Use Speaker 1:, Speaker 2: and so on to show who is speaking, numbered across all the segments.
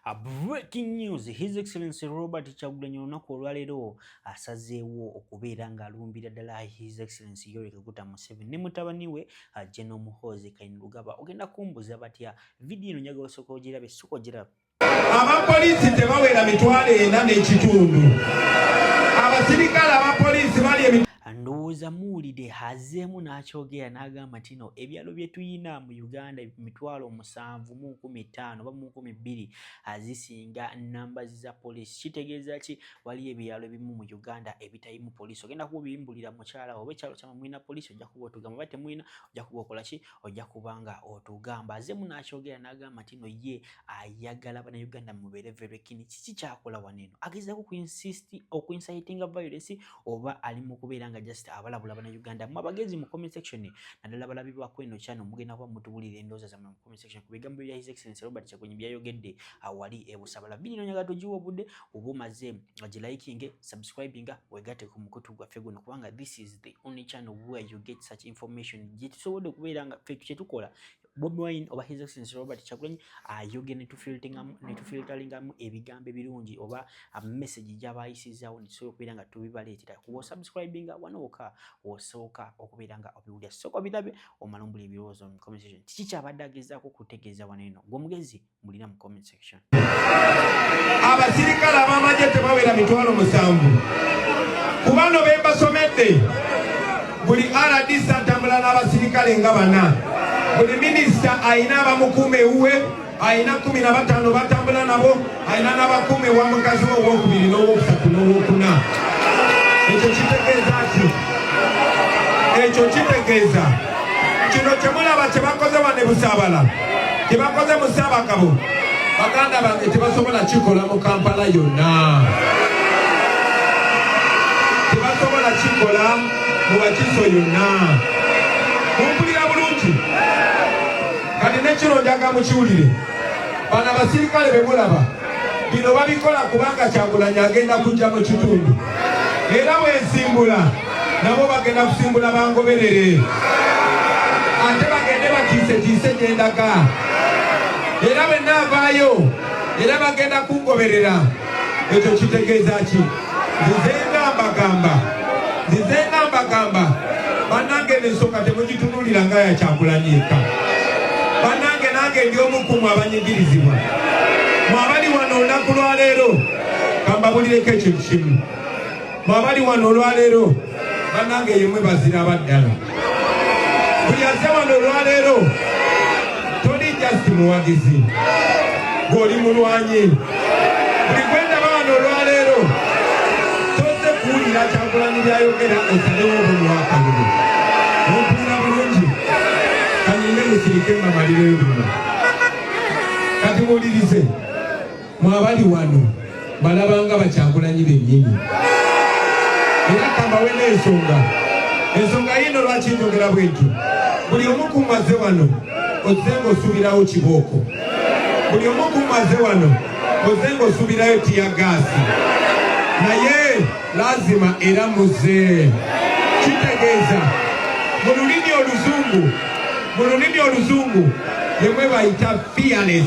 Speaker 1: A breaking news his excellency robert kyagulanyi olunaku olwaleero asazeewo okubeera ng'alumbira ddala his excellency yorika guta museven ne mutabani we ajeno muhoozi kainulugaba ogenda kumbuza batya vidiyo eno njagala osooka ogirabe sooka ogirabe abapoliisi
Speaker 2: tebawera mitwalo ena n'ekitundu abasirikale abapoliisi bali ndowooza
Speaker 1: muwulide hazeemu n'akyogera n'agamba nti no ebyalo bye tuyina mu uganda mitwalo musanvu mu nkumi ttaano oba mu nkumi bbiri azisinga namba za poliisi kitegeeza ki waliyo ebyalo ebimu mu uganda ebitayimu poliisi ogenda kuba obiyimbulira mukyala oba ekyalo kyama mulina poliisi ojja kuba otugamba oba temulina ojja kuba okola ki ojja kuba nga otugamba azeemu n'akyogera n'agamba nti no ye ayagala bana uganda mubeere verekini kiki kyakola wano eno agezaako okuinsisti okuinsayitinga violence oba ali mu kubeera nga just abalabula bana Uganda mwa bagezi mu comment section nadala balabi ba kweno chano mugenda kwa mutubulira endoza za mu comment section ku bigambo bya his excellence Robert Chakunyi bya yogedde awali e busabala bini nonyaga tojiwo budde obo maze aje liking subscribing wegate ku mukutu gwa fego no kubanga this is the only channel where you get such information jitusobode kubeera nga fake chetukola Bobi Wine oba His Excellency Robert Kyagulanyi ayogera netufilteringamu ebigambo ebirungi oba message gyaba ayisizaawo netusobola okubeera nga tubibaleetera kuba osubscribinga wano woka osooka okubeera nga obiwulira sooka obirabe omala ombula ebirowoozo mu comment section kiki kyabadde agezaako okutegeeza wano eno gwe omugezi mulina mu comment section. Abasirikale
Speaker 2: abamagye tebawera mitwalo musanvu ku bano be mbasomedde buli RDC atambula n'abasirikale nga bana buli minisita alina abamukuuma ewuwe alina kumi na bataano batambula nabo alina n'abakuuma ewa mukazi we owokubiri n'owokusatu n'owokuna ekyo kitegeeza ki ekyo kitegeeza kino kyemulaba kyebakoze wane busabala kyebakoze mu Ssaabagabo baganda bange tebasobola kikola mu Kampala yonna, tebasobola kikola mu Wakiso yonna. Mumpulira bulungi? Kati nekiro njagala mukiwulire, bano abasirikale bemulaba bino babikola kubanga kyagulanyi agenda kujja mu kitundu era bwensimbula nabo bagenda kusimbula bangoberere ate bagende batiisetiise gyendaga era bwenaavaayo era bagenda kungoberera ekyo kitegeeza ki nzize nga mbagamba nzize nga mbagamba banange nensonga temugitunulira nga yakyakulanyeka banange nange ndi omukumu abanyigirizibwa mwabali wano olunaku lwaleero kambabulireko ekintu kimu mwabali wano olwaleero banange yemwe bazira baddala buli aze wano olwaleero toli just muwagizi gwoli mulwanyi buli gwendaba wano olwaleero toze kuwulira kyakulani byayogera osalewo obulwakalulu ompulira bulungi kanyinde musirike mamarireyobuna kati muwulirize mwabali wano balabanga bakyagulanyi benyini era kambawe n'ensonga ensonga yiino lwaki njogera bwenti buli omu kumaze wano ozze ng'osuubirawo kibooko buli omu kumaze wano ozze ng'osuubirayo tiya gaasi naye lazima era muze kitegeeza mu lulimi oluzungu mu lulimi oluzungu yemwe bayita fearless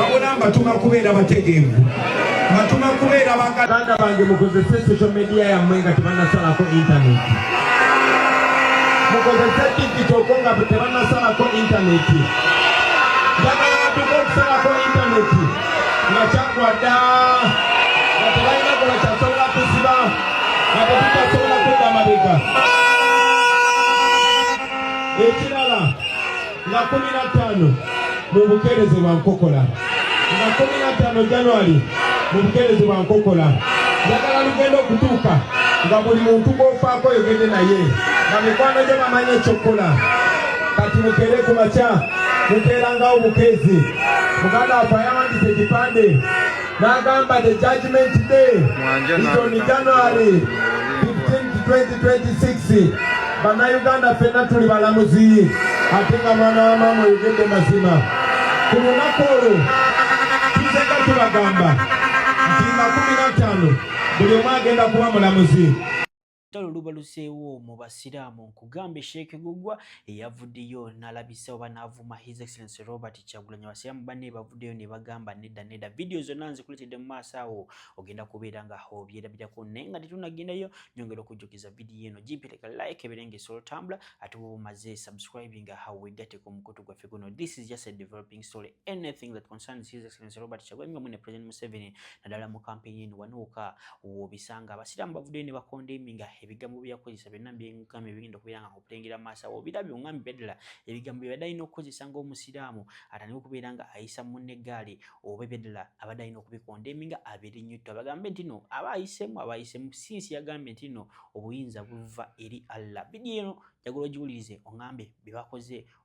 Speaker 2: wabula mbatuma kubeera bategeevu mbatuma kubeera baganda bange mukozese social media yammwe nga tebanasalako intaneti mukozese digitoko nga tebanasalako intaneti njagala batuka okusalako intaneti nga kyagwa dda nga tebalina gola kyasobola kusiba nga tetukyasobola kudda mabega nga kumi na ttaano mu bukeereze bwa nkokola nga kumi na ttaano januari mu bukeereze bwa nkokola njagala lugenda okutuuka nga buli muntu gwofaako oyogedde naye nga mikwano gyo bamanyi ekyokukola kati mukeere ku makya mukeerangawo bukeezi muganda waffe ayawandisa ekipande Nagamba the judgment day is on January 15 2026 bannayuganda fenna tuli balamuzi ate nga mwana wa maama oyogedde mazima ku lunaku olwo tuzeka tubagamba nti nga kumi na ttaano buli omu agenda kuba mulamuzi Olutalo
Speaker 1: lubaluseewo mu Basiraamu nkugambe Sheikh Gugwa eyavuddeyo nalabisa oba n'avuma His Excellency Robert Kyagulanyi Abasiraamu banne bavuddeyo ne bagamba nedda nedda vidiyo zonna nzikuleetedde mu maaso awo ogenda kubeera nga obyerabirako naye nga tetunagendayo nyongera okujjukiza vidiyo eno gipireka like ebeere nga esobola otambula ate bwoba omaze subscribing awo wegateko omukutu gwaffe guno this is just a developing story anything that concerns His Excellency Robert Kyagulanyi nga mwene President Museveni naddala mu kampeyini eno wanuuka wobisanga abasiraamu bavuddeyo ne bakondemi nga ebigambo bye yakozesa byonna byengambo ebigenda okubeera nga okulengera amaaso awo obirabye ongambi byaddala ebigambo byebadde alina okukozesa ng'omusiraamu atandika okubeera nga ayisa munne eggaali oba ebyaddala abadde alina okubikondemi nga abeere nnyo tto abagambe nti no aba ayisemu aba ayisemu sinsi yagambye nti no obuyinza buva eri Allah bidiyo eno jagula ogiwulirize ongambe bye bakoze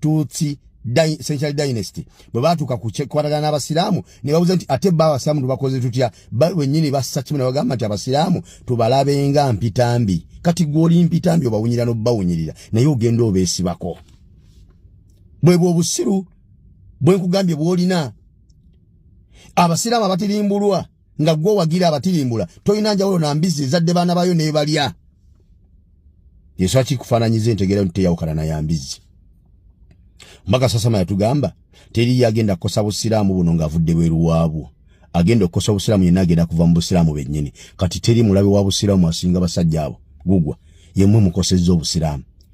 Speaker 3: Tutsi Central Dynasty bwe baatuuka ku kyekwatagana n'abasiraamu ne babuuza nti ate bba abasiraamu tubakoze tutya ba wennyini bassa kimu ne bagamba nti abasiraamu tubalabenga mpitambi kati gw'oli mpitambi obawunyira n'obbawunyirira naye ogenda obeesibako bwe bw'obusiru bwe nkugambye bw'olina abasiraamu abatirimbulwa nga gwe wagira abatirimbula tolina njawulo na mbizi ezadde baana bayo nebalya yesu akikufaananyiza entegeera nti teyawukana na ya mbizi mbaka sasama yatugamba teriyo agenda kukosa busiraamu buno ng'avudde bweru waabwo agenda okukosa obusiraamu yenna agenda kuva mu busiraamu bennyini kati teri mulabe wa busiraamu asinga basajja abo gugwa yemwe mukosezza obusiraamu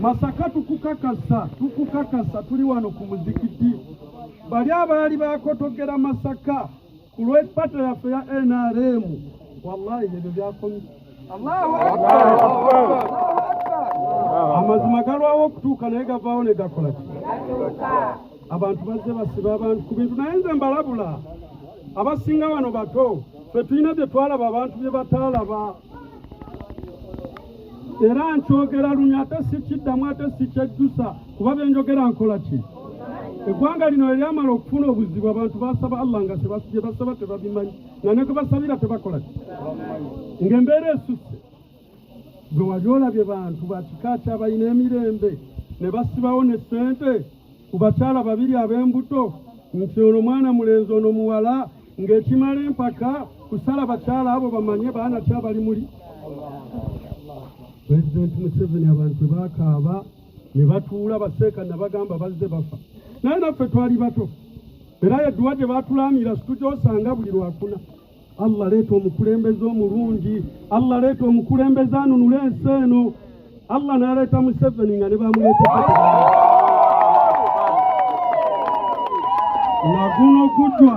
Speaker 4: Masaka tukukakasa tukukakasa tuli wano ku muzikiti bali abaali bakotogera Masaka ku lw'ekipato yaffe ya NRM wallahi ebyo byakomye Allahu amazima galwawo okutuuka naye gavaawo ne gakola ki abantu bazze basiba abantu ku bintu naye nze mbalabula abasinga wano bato ffe tulina bye twalaba abantu bye bataalaba era nkyogera lunya ate sikiddamu ate sikyejjusa kuba byenjogera nkola ki eggwanga lino eryamala okufuna obuzibu abantu basaba allah nga gye basaba tebabimanyi nga ne gwe basabira tebakola ki ng'embeera esusse gwe wali olabye bantu bakika kyabalina emirembe ne basibawo ne ssente ku bakyala babiri ab'embuto nti ono mwana mulenzi ono muwala ng'ekimala empaka kusala bakyala abo bamanye baana ki abali muli pulezidenti museveni abantu bakaaba ne batuula baseeka nabagamba bazze bafa naye naffe twali bato era yeduwa gye batulaamira situjosanga buli lwakuna allah leeta omukulembeze omulungi allah leeta omukulembeze anunula ensi eno Allah n'aleeta Museveni nga ne bamuleeteko na guno gujwa